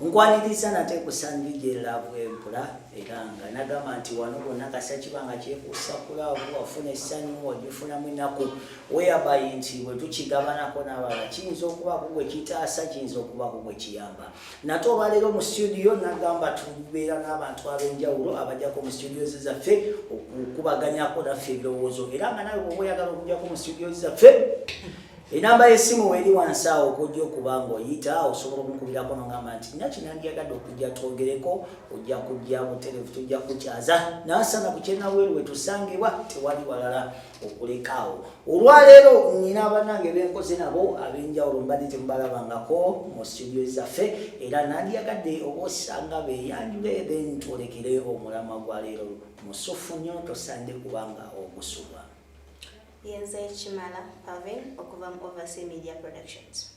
nkwaniriza nate kusandi gye laavu empula era nga nagamba nti wano bonna kasa kiba nga kyekuusa ku laavu wafuna essanyu ogifunamu ennaku weyabayi nti bwe tukigabanako n'abalala kiyinza okubaako gwe kitaasa kiyinza okubaako gwe kiyamba nate olwaleero mu situdiyo nagamba tubeera n'abantu ab'enjawulo abajjako mu situdiyo ze zaffe okukubaganyako naffe ebirowoozo era nga nawe bwoba oyagala okujjako mu situdiyo ze zaffe enamba y'essimu weeri wansi awo okujja okuba ng'oyita osobola okumukubirako nogamba nti naki nandiyagadde okujja twogereko ojja kujja buterevu tujja kukyaza nasana ku kyenabweru wetusangibwa tewali walala okulekaawo olwaleero nina abanange benkoze nabo ab'enjawulo mbadde temubalabangako mu situdio zaffe era nandiyagadde oba osanga beyanjule then twolekere omulamwa gwa leero musufu nnyo tosande kubanga ogusubwa Yenze Kimala Pavin okuva mu Oversea Media Productions.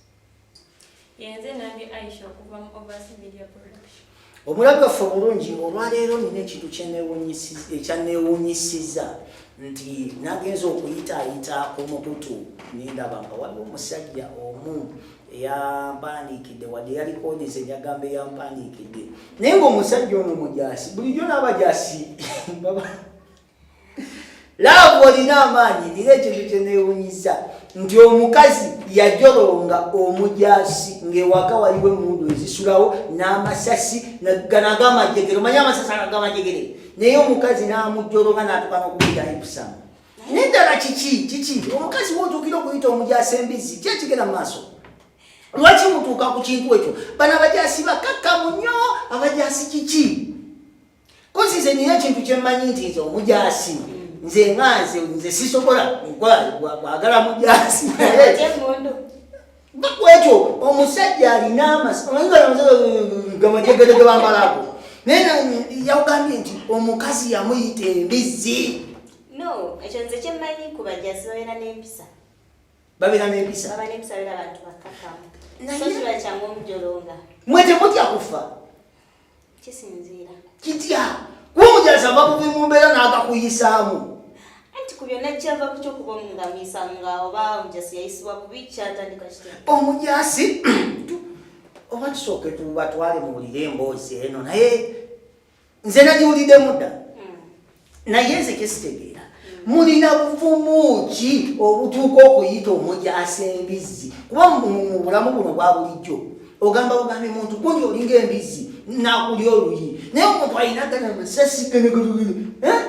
Yenze Nange Aisha okuva mu Oversea Media Productions. Omulabi waffe omulungi olwaleero nina ekintu ekyanneewuunyisiza nti nagenza okuyitaayita ku mukutu nendaba nga waliwo omusajja omu eyampandiikidde wadde yalikodeza enyagamba eyampandiikidde naye ngaomusajja ono mujaasi bulijjo n'abajaasi laavu olina amaanyi era ekintu kyeneewunyisa nti omukazi yajolonga omujasi ng'ewaka waliwo emundu ezisulawo n'amasasi nagamajegere omanye amasasi agagamajegere naye omukazi n'amujolonga n'atuka n'okubira ebisamu naye ddala kiki kiki omukazi wotuukira okuyita omujasi embizzi ki ekigera mu maaso lwaki mutuuka ku kintu ekyo bano abajasi bakakkamu nnyo abajasi kiki kozi nze nina ekintu kyemmanyi nti nze omujaasi nze nga nze nze sisobola kwagala mujaasi bakwekyo omusajja alina amasagamajegedege bambalago naye yagambye nti omukazi yamuyita embizzi no ekyo nze kyemmanyi ku bajaasi babeera n'empisa babeera n'empisa baba n'empisa beera bantu bakkakkamu so kiba kyangu omujolonga mwe temutya kufa kisinziira kitya kuba omujaasi ava kuva mu mbeera n'agakuyisaamu anti ku byonna kyava ku kyokuba omungamiisa nga oba omujaasi yayisibwa bubi kyatandika kitya omujaasi oba tusooke tubatwale muwulire emboozi eno naye nze nagiwuliddemu dda naye nze kyesitegeera mulina buvumu ki obutuuka okuyita omujaasi embizzi kuba mu bulamu buno bwa bulijjo ogamba bugambi muntu kundi olinga embizzi nakuli oluyi naye omuntu alina gana amasasi genegelegele eh?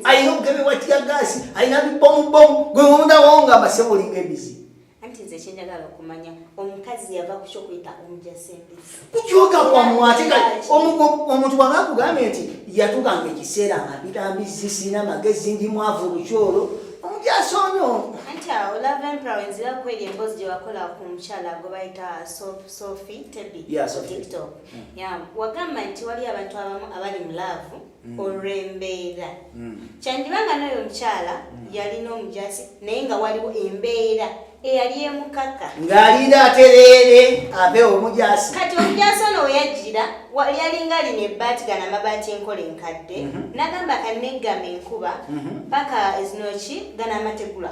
alina obugemebwa tya gaasi alina bibomubomu gwe mumudawonga amasebo olinga embizzi anti nze kyenjagala okumanya omukazi yava ku kyokuyita omujasi embizzi kukyoka kwamu ate omuntu waba akugambye nti yatugamba ekiseera amabira mbizzi sirina magezi ndi mwavu lukyolo omujasi onyo anti awo lava empera wenzira kweri emboozi gye wakola ku mukyala gwe bayita sofi tebi tiktok hmm. wagamba nti waliyo abantu abamu abali mu laavu mm. olw'embeera mm. kyandiba nga n'oyo omukyala mm. yalina omujazi naye nga waliwo embeera eyali emukaka ng'alinda atereere ave omujazi kati omujazi ono weyajjira yalinga lino ebbaati gano amabaati enkola enkadde mm-hmm. nagamba kanneggama enkuba mm-hmm. paka ezinoki gano amategula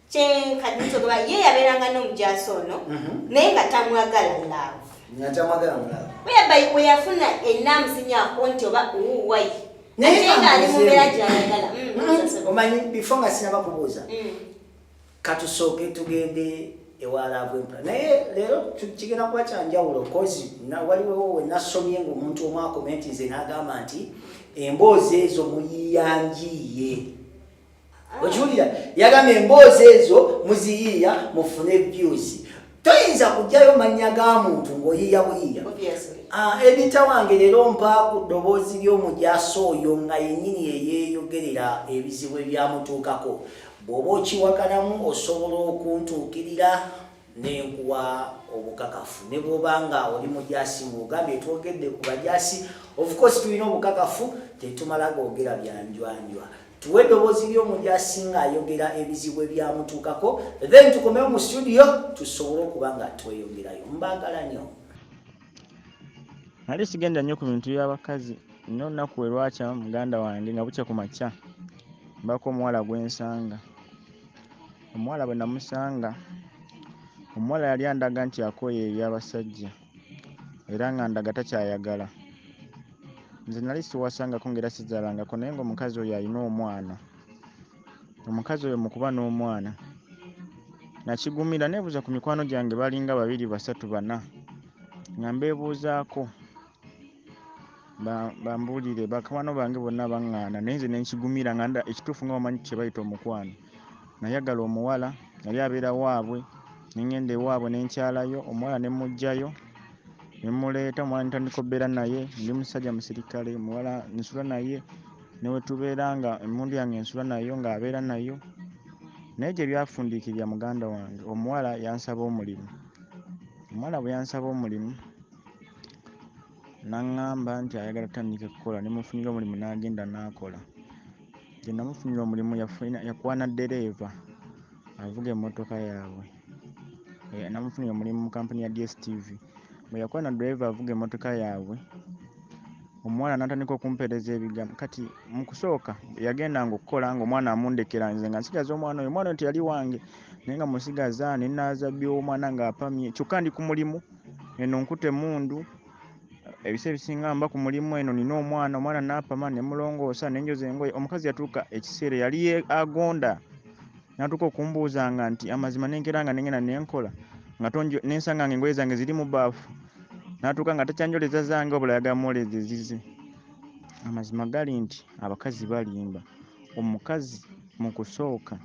kyenkadde kyogoba ye yabeeranga n'omujaasi ono mhm. naye nga tamwagala love nga tamwagala mu love weyaba weyafuna enaamuzinyako nti oba uwai naye nga ali mu mbeera gyayagala mm, mm. omanyi bifo nga sinaba kubuuza mm. katusooke tugende ewalaavu empula naye leero kigenda kuba kyanjawulo kozi waliwewo wenasomye ngaomuntu omu akomenti nze nagamba nti emboozi ezo muyiyanjiiye okiwulira yagambye emboozi ezo muziyiiya mufune views toyinza kugyayo mannya ga muntu ng'oyiiya buyiiya ah, ebita wange leero mpa ku ddoboozi ly'omujaso oyo nga yennyini eyeeyogerera ebizibu ebyamutuukako bw'oba okiwakanamu osobola okuntuukirira nenkuwa obukakafu ne bwoba nga oli mujasi ngaogambye twogedde ku bajasi of course tulina obukakafu tetumala googera byanjwanjwa tuwe eddoboozi ly'omuntu asinga ayogera ebizibu ebyamutuukako then tukomewo mu studio tusobole okuba nga tweyongerayo mbaagala nyo nali sigenda nnyo ku bintu by'abakazi nno nnaku we lwakya muganda wange nga bukya ku makya mbako omuwala gwensanga omuwala bwe namusanga omuwala yali andaga nti akooye eby'abasajja era nga ndaga takyayagala nze nali siwasangako ngaera sizalangako naye nga omukazi oyo alina omwana omukazi oyo mukuba n'omwana nakigumira nebuuza ku mikwano gyange balinga babiri basatu bana nga mbebuuzaako bambuulire bakwano bange bonna baŋŋaana naye nze nenkigumira nga ekituufu nga bamanyi kyebayita omukwano nayagala omuwala yali abeera waabwe ne ŋŋenda ewaabwe ne nkyalayo omuwala ne mmuggyayo ne mmuleeta omuwala ne ntandika okubeera naye ndi musajja musirikale omuwala nsula naye ne we tubeera nga emmundu yange nsula nayo ng'abeera nayo naye gye byafundiikirira muganda wange omuwala yansaba omulimu omuwala bwe yansaba omulimu n'aŋŋamba nti ayagala tutandike kukola ne mufunira omulimu n'agenda n'akola gye namufunira omulimu yakwana ddereeva avuga emmotoka yaabwe eh, namufunira omulimu mu kampuni ya dstv bwe yakwana ddereeva avuga emmotoka yaabwe omuwala natandika okumpeereza ebigambo kati mu kusooka yagenda nga okukola nga omwana amundekera nze nga nsigaza omwana oyo omwana oyo teyali wange naye nga musigaza nenaaza byomwana nga apamye kyokka ndi ku mulimu eno nkute mundu ebisa ebisinga mba ku mulimu eno nina omwana omwana napama nemulongoosa nenjoza engoye omukazi yatuuka ekiseera yali agonda natuuka okumbuuzanga nti amazima nenkera nga nengenda nenkola nga nensanga nga engoye zange ziri mu baafu natuuka nga takyanjoleza zange obula yagamwoleza ezize amazima gali nti abakazi balimba omukazi mu kusooka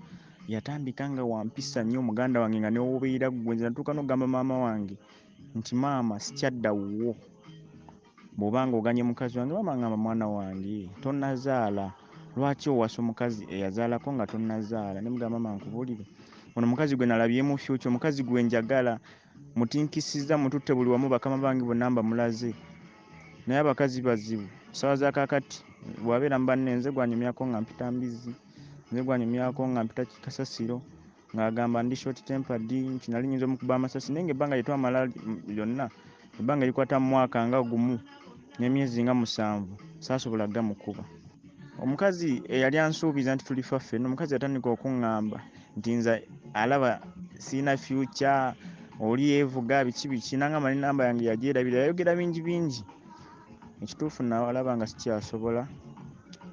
yatandika nga wampisa nnyo muganda wange nga newuubirira ggwe nze natuuka nokugamba maama wange nti maama sikyadda wuwo bwoba nga oganye mukazi wange maama ngamba mwana wange tonazaala lwaki owasa omukazi eyazaalako nga tonazaala nemugamba maama nkubulire ono mukazi gwe nalabyemu fyukya omukazi gwe njagala mutinkisiza mututte buli wamu bakama bange bonna mbamulaze naye abakazi bazibu sawa zakakati bwabeera mubanne nze gwanyumyako nga mpita mbizi nze gwanyumyako nga mpita kasasiro ng'agamba ndi short tempered nti nali nyinza omukuba amasasi naye ng'ebbanga lye twamala lyonna ebbanga likwata mu mwaka nga gumu n'emyezi nga musanvu saasobola gamukuba omukazi eyali ansuubiza nti tulifa ffenna omukazi yatandika okuŋŋamba nti nze alaba sirina fyukya oli yeevuga biki biki nangamba ne namba yange yagyerabira yayogera bingi bingi ekituufu nalaba nga sikyasobola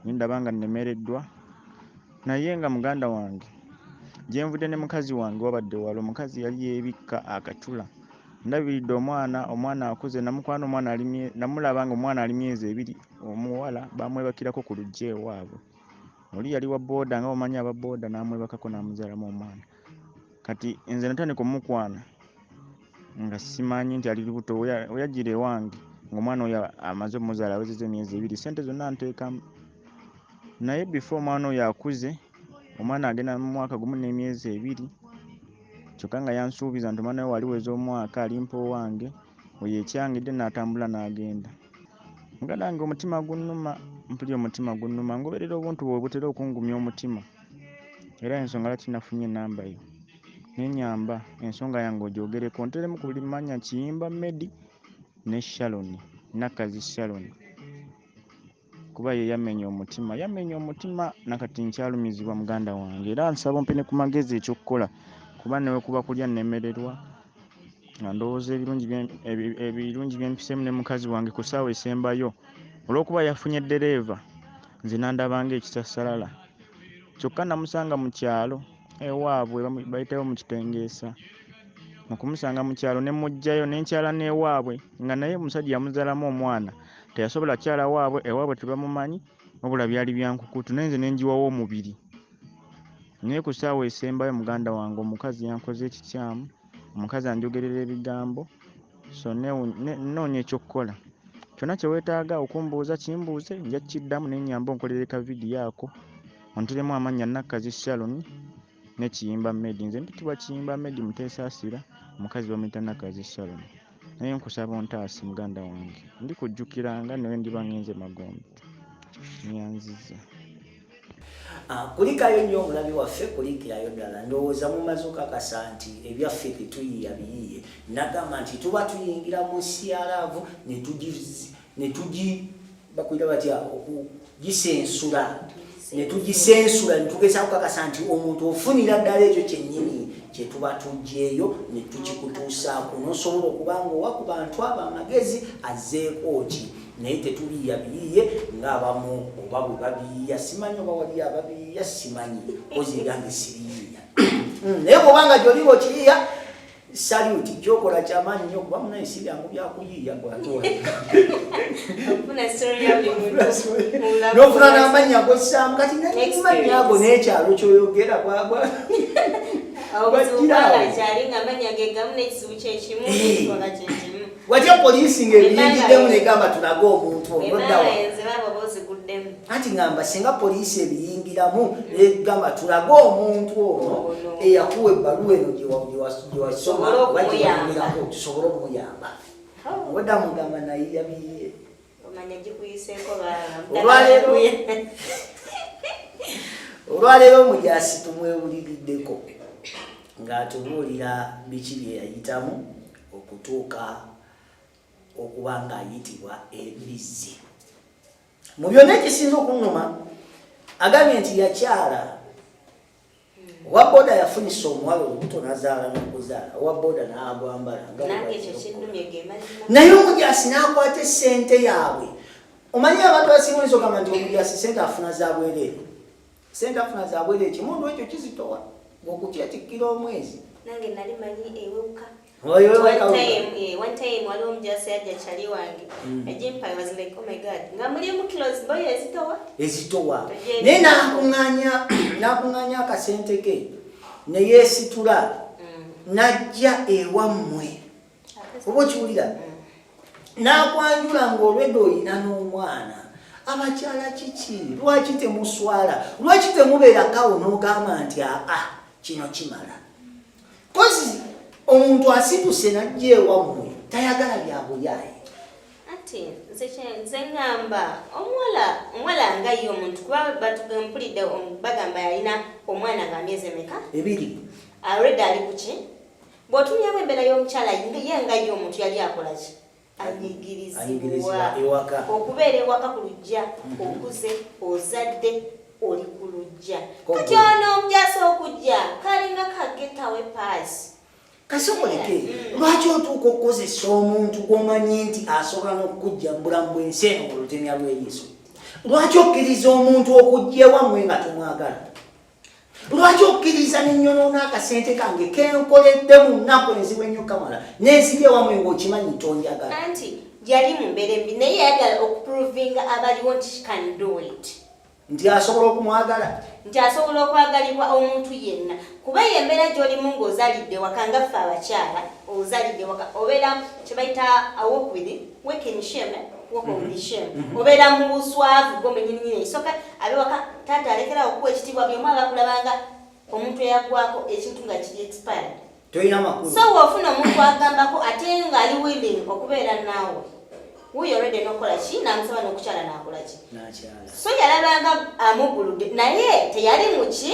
nindaba nga nnemereddwa Naye nga muganda wange gyenvudde ne mukazi wange wabadde wala omukazi yali yebikka akacula ndabiridde omwana omwana akuze namukwana omwana namulaba nga omwana ali myezi ebiri omuwala bamwebakirako ku luggi ewaabwe oli yali wa booda nga omanyi aba booda namwebakako namuzalamu omwana kati nze natandika omukwana nga simanyi nti ali lubuto weyajjira ewange ngaomwana oyo amaze omuzaala awezeza emyezi ebiri sente zonna nteekamu naye befo omwana oyo akuze omwana agenda mu mwaka gumu n'emyezi ebiri kyokka nga yansuubiza nti omwana we waliweza omwaka alimpa owange oyo ekyangidde n'atambula n'agenda muganda wange omutima gunnuma mpulira omutima gunnuma ngoberera obuntu bwe butera okungumya omutima era ensonga lwaki nafunye enamba yo nenyamba ensonga yange ogyogereko nteremu ku buli manya kiyimba medi ne shalon nakazi shalon kuba ye yamenya omutima yamenya omutima nakati nkyalumizibwa muganda wange era nsaba ompe ne ku magezi ekyokukola kuba newekuba kulya nemererwa nga ndowooza ebirungi byempisemu ne mukazi wange ku saawa esembayo olwokuba yafunye dereeva nze nandabanga ekisasalala kyokka namusanga mu kyalo ewaabwe bayitawo mu kitengeesa mu kumusanga mu kyalo ne mujjayo nenkyala n'ewaabwe nga naye omusajja yamuzaalamu omwana teyasobola kyala waabwe ewaabwe tebamumanyi wabula byali byankukutu naye nze nenjiwawo omubiri naye ku ssaawa esembayo muganda wange omukazi yankoze ekikyamu omukazi anjogerera ebigambo so nnoonya ekyokukola kyonna kye weetaaga okumbuuza kimbuuze nja kukiddamu naye nnyamba onkolere ka vidiyo ako onteremu amannya nakkazi sharon ne kiyimba medi nze mpitibwa kiyimba medi muteesaasira omukazi bamuyita nakkazi sharon naye nkusaba ontaase muganda wange ndi kujjukiranga nawe ndiba ngenze magombe nyanziza ah, kulikayo nnyo omulabi waffe kulikirayo ddala ndowooza mumaze okakasa nti ebyaffe tetuyiya biyiye nagamba nti tuba tuyingira mu sialaavu netugizi ne tugi bakuyita batya okugisensula ne tugisensula ne tugeza kukakasa nti omuntu ofunira ddala ekyo kyennyini kye tuba tugyeyo ne tukikutuusaako n'osobola okuba nga owa ku bantu abo amagezi azzeeko ki naye tetuliya biyiye ng'abamu oba bwe babiyiya simanyi oba waliyo ababiyiya simanyi ozi ebyange sibiyiya hmm, naye bw'oba nga gyoliba okiyiya Salute kyokola kyamaanyi nnyo kuba munaye si byangu byakuyiiya nofuna n'amannya gossaamu kati namannya ago n'ekyalo kyoyogera bwabwa watya poliisi ng'ebiyingiddemu negamba tulage omuntu onoddawa anti ngamba singa poliisi ebiyingiramu negamba tulage omuntu ono eyakuwa ebbaluwa eno gyewasoma oba gyewayingirako tusobole okumuyamba oh. oda mugamba naye yabiye olwaleero omujaasi tumwewuliriddeko ng'atubuulira biki bye yayitamu okutuuka okuba ng'ayitibwa embizzi mu byonna ekisinza okunuma agambye nti yakyala owa boda yafunisa omuwala olubuto nazaala nokuzaala owa boda nagwambala naye omujasi nakwata esente yaabwe omanyi abantu basinga oyinza ogamba nti omujasi sente afuna zabwereere sente afuna zabwereere kimundu ekyo kizitowa okukyetikira omwezi Oyo wewe one time, yeah, one time waliwo omujaasi yajja chali wange. Mm. Ejimpale was like, oh my god. Nga muli mu close boy ezitowa. Ezitowa. Ne nakunganya nakunganya akasente ke. Ne yesitula. Mm. Najja ewa mwe. Obo chiulira. Mm. Nakwanjula ngolwedo ina n'omwana. Abakyala kiki? Lwaki temuswala? Lwaki temubeera kawo n'ogamba nti aa ah, ah, kino kimala? kozi omuntu asituse najja ewammwe tayagala byabuyaye ati nze ngamba omuwala omuwala nga ye omuntu kuba batugempulidde bagamba yalina omwana nga myezi emeka ebiri alredi ali kuki bwotumyamu embeera y'omukyala ye nga ye omuntu yali akolaki anyigirizibwa ewaka okubeera ewaka ku lujja mhm. okuze ozadde oli ku lujja kati ono omujasa okujja kalinga kagetawe paasi kasoboleke mm. lwaki otuuka okukozesa omuntu gwomanyi nti asobola n'okukujja mu bulamu bwensi eno olutemya lw'eriiso lwaki okkiriza omuntu okujja ewamwe nga tomwagala lwaki okkiriza nenyonoona akasente kange kenkoledde mu nnaku enzibu ennyo kamala nensibye wamwe ngaokimanyi tonjagala anti yali mu mbeera embi naye yayagala okuprovinga abaliwo nti can do it nti asobola okumwagala nti asobola okwagalibwa omuntu yenna kuba eyo embeera gyolimu ngaozalidde waka nga ffe abakyala ozalidde waka obeera kyebayita awokubiri Waking shame, eh? Walk mm -hmm. shame. Mm -hmm. Obera mu buswavu gombe nyini nyini isoka abe waka tata alekera okuwa ekitibwa byo mwa bakulabanga omuntu eyagwako ekintu nga kiri expired. Toyina makulu. So wofuna omuntu agambako ate nga ali willing okubeera naawe. Wuyo already nokola ki namusaba nokukyala nakola ki. Nakyala. So yalabanga amugulude naye teyali muki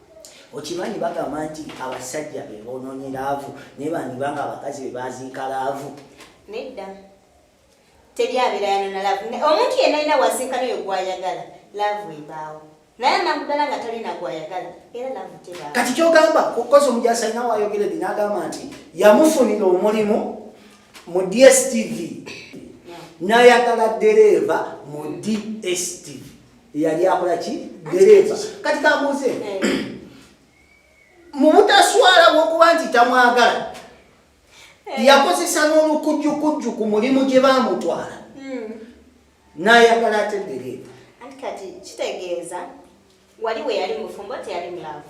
okimanyi bagamba nti abasajja be bonoonye laavu naye bandiba nga abakazi be baziika laavu nedda teri abeera yanona laavu omuntu yenna alina waziika noyo gwayagala laavu ebaawo naye anakudala nga talina gwayagala era laavu tebaawo kati kyogamba kukozi omujasi alina wayogera di nagamba nti yamufunira omulimu mu dstv nayagala dereeva mu dstv eyali akola ki dereeva kati kambuuze eh. mu butaswala bwokuba nti tamwagala eh. yakozesa n'olukujjukujju ku mulimu gye bamutwala hmm. n'ayagala ate dereeva kitegeeza wali we yali mufumbo teyali mulavu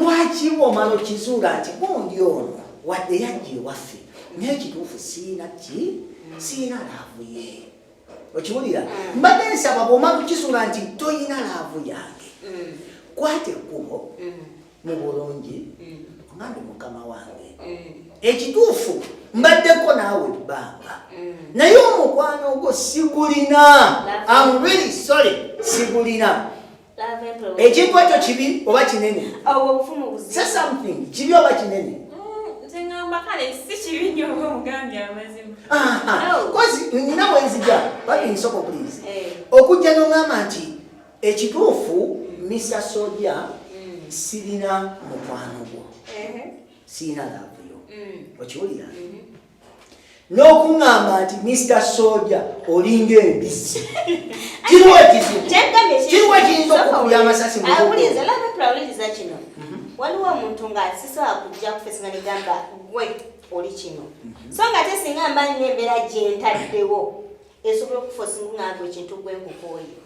lwaki omala okizuula nti gundi ono wadde yajja ewaffe naye kituufu siina ki siina laavu ye okiwulira mm. mbadde nsaba bwomala okizuula nti toyina laavu yange mm. kwata ekkubo mm. mu bulungi omande mukama wange ekituufu mbaddeko naawe ebbanga naye omukwano ogwo sigulina am really sorry sigulina ekintu ekyo kibi oba kinene kibi oba kinene nina wenzija babinsoko pliz okujja noŋgamba nti ekituufu misa soja mm. sirina mukwano gwo sirina lavuyo mm. okiwulira mm-hmm. n'okuŋŋamba nti mista soja olinga embizzi kiriwo ekizibu kiriwo ekiyinza okukubya amasasi muwuliriza labepula wuliriza kino mhm. waliwo omuntu nga sisobola kujja kufesinga negamba gwe oli kino mhm. so nga te singa mba nina embeera gyentaddewo esobola okufosinga ngamba ekintu gwe nkukooyo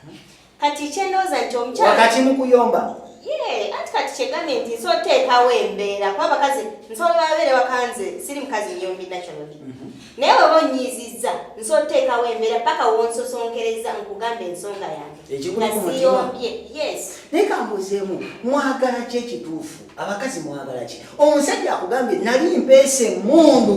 mhm. Kati kyendoza nti omukyala wakati mu kuyomba yee anti kati kyegambye nti nsobola oteekawo embeera kuba abakazi nsobola babeere wakanze siri mukazi nyombi nationally mhm. naye weba onyiizizza nsobola oteekawo embeera paka wonsosonkereza nkugambe ensonga yange nasiyombye yes naye kambuzeemu mwagala ki ekituufu abakazi mwagala ki omusajja akugambye nali mpeesa emundu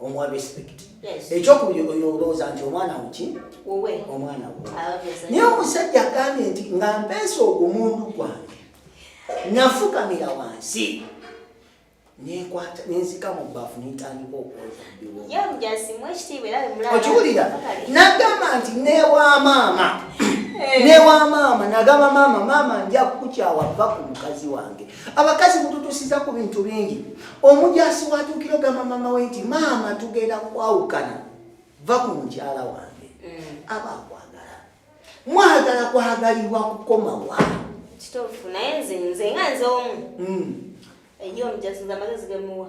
omuwa respect ekyokubiri oyo olowooza nti omwana wuki omwana wo ah, naye omusajja agambye nti nga mpeesa ogumundu gwange nafukamira wansi nenzika mu bbafu nentandika okwozaokiwulira nagamba nti newa maama eh. newa maama nagamba maama maama nja kukukyawa va ku mukazi wange abakazi mututusiza ku bintu bingi omujaasi watuukira ogamba maama we nti maama tugenda kwawukana va ku mukyala wange mm. aba akwagala mwagala kwagalibwa kukomawa kituufu naye nze nze nga nze omu mm. eyo omujaasi nze amagezi gemuwa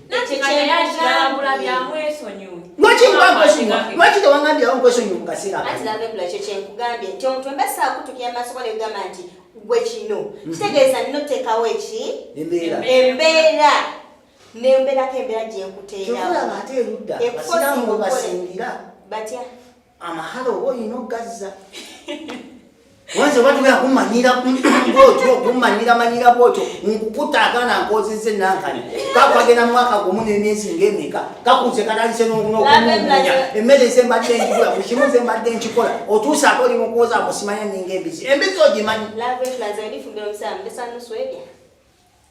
lwaki tewangambirawo nkwesonyiwa mu kaseera ekyo kyenkugambye nti omuntu wemba saakutukira maaso gwa negamba nti gwe kino mhm. kitegeeza nina oteekawo eki embeera nembeerako embeera gyenkuteerawo batya amahalo oba olina okugazza wanze oba tugenda kumanyira bwotyo okumanyira manyira bwotyo nkukuta agaana nkozeza enankani kakwagenda mwaka gumu nemyezi ngemeka kakuze katandise nokunokumumunya emmere zembadde nkikola buli kimu zembadde nkikola otuuse ate oli mukuwoza musimanya ninga embizi embizi ogimanyi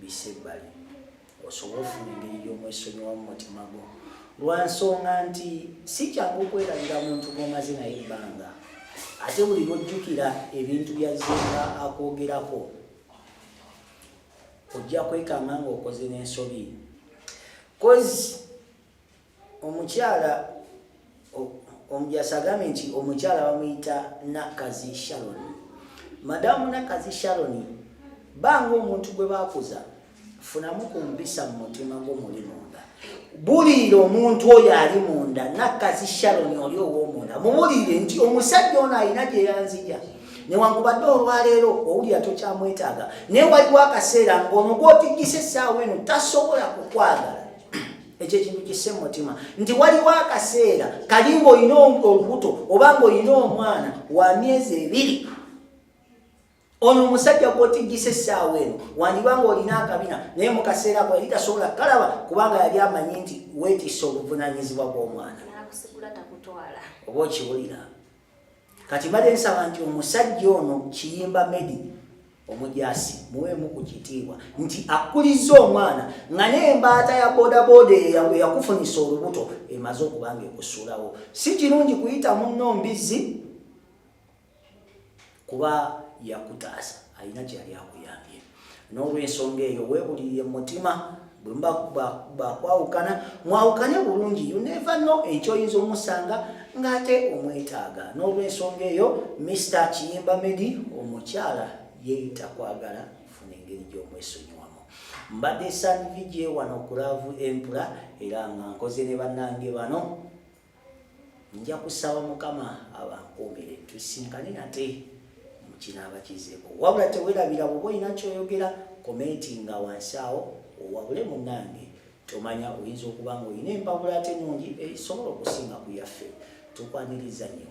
bissa ebbali osobola ofuna engeri gy'omwesonyiwa mu mutima gwo lwa nsonga nti si kyangu okwerabira muntu gwomaze naye ebbanga ate buli lwojjukira ebintu byazzenga akwogerako ojja kwekanga ngaokoze n'ensobi kozi omukyala omujaasi agambye nti omukyala bamuyita nakkazi shaloni madamu nakkazi shaloni banga omuntu gwe bakuza funamu ku mpisa mu mutima gwo muli munda buliira omuntu oyo ali munda nakkazi shaloni oli owomunda mubuliire nti omusajja ono alina gye yanzija newankubadde olwaleero owulira tokyamwetaaga naye waliwo akaseera ngaono gwotiggisa essaawa eno tasobola kukwagala ekyo ekintu kisse mu mutima nti waliwo akaseera kali ng'olina olubuto oba ng'olina omwana wa myezi ebiri ono omusajja gw'otiggisa essaawa eno wandiba ng'olina akabina naye mu kaseera ko yali tasobola kukalaba kubanga yali amanyi nti weetisse obuvunaanyizibwa bw'omwana oba okiwulira Kati mbadde nsaba nti omusajja ono kiyimba medi omujasi muweemu ku kitiibwa nti akkulizza omwana nga n'embaata ya bodaboda eyakufunisa olubuto emaze okubanga ekusuulawo si kirungi kuyita munno mbizzi kuba yakutaasa alina kyeyali akuyambye n'olwensonga eyo weebulirire mu mutima bwemba bakwawukana mwawukane bulungi you never know ekyo oyinza omusanga ng'ate omwetaaga n'olwensonga eyo mr kiyimba medi omukyala yeeyita kwagala funa engeri gy'omwesonyiwa mbadde sanvije wano ku laavu empula era nga nkoze ne bannange bano nja kusaba mukama abankuumire tusinkane nate mukinaaba kizeeko wabula tewerabira bwoba olina kyoyogera komenti nga wansi awo owabule munange tomanya oyinza okuba nga olina empabula ate nungi esobola eh, okusinga ku yaffe tukwaniriza nnyo